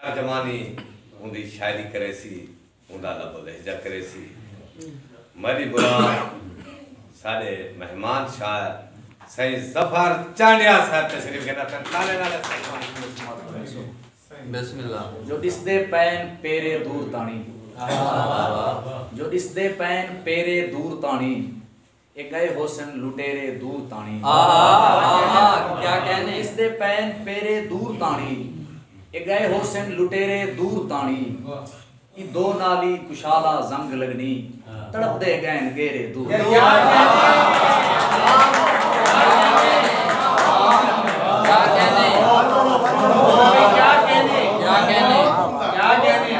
ترجمانی اوندی شاعری کریسی، اوندا لب و لہجہ کریسی۔ میݙی مراد ساݙے مہمان شاعر سئیں ظفر چانڈیا صاحب تشریف گھن اتن، تاݙے نال اساں دی کہاݨی شروع سماعت کریسوں۔ بسم اللہ۔ جو ݙسدے پئن پیرے دور تاݨی۔ جو ݙسدے پئن پیرے دور تاݨی۔ اے گئے ہوسن لٹیرے دور تاݨی۔ ہا ہا ہا ہا کیا کہنے۔ اس دے پین پیرے دور تاݨی۔ اے گئے ہوسن لٹیرے دور تاݨی۔ ای دو نالی کشالا زنگ لگنی۔ تڑپ دے گئن گیرے دور تاݨی۔ کیا کہنے۔ کیا کہنے۔ کیا کہنے۔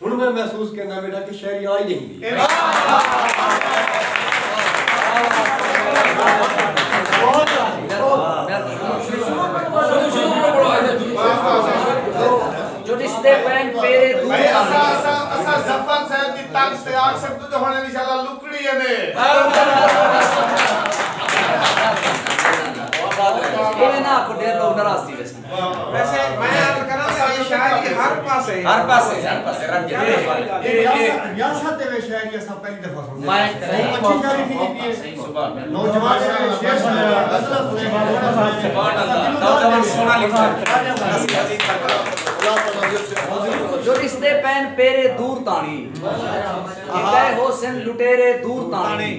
ہن میں محسوس کینداں بیٹھاں کہ شاعری آ ای ڈیہہ گئی اے۔ جو ݙسدے پئن پیرے دور تاݨی، ݙتے ہوسن لٹیرے دور تاݨی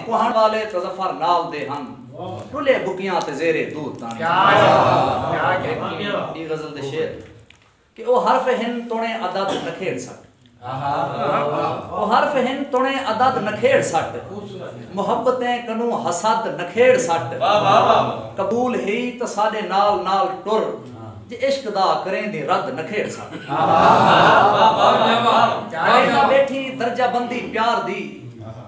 کوہݨ والے تاں ظفر نال دے ہن ݙلھے بکیاں تے زیر دود تاݨی ایں غزل دے شعر کہ او حرف ہن تݨے عدد نکھیڑ سٹ او حرف ہن تݨے عدد نکھیڑ سٹ محبتیں کنوں حسد نکھیڑ سٹ قبول ہئی تاں ساݙے نال نال ٹر جے عشق دا کریں دی رد نکھیڑ سٹ ویکھدا ٻیٹھیں درجہ بندی پیار دی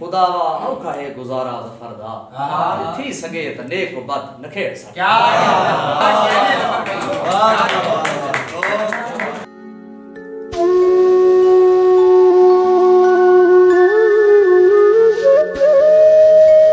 خدا وا اوکھا ہے گزارا ظفر دا جو تھی سگے تاں نیک و بد نکھیڑ سگے کیا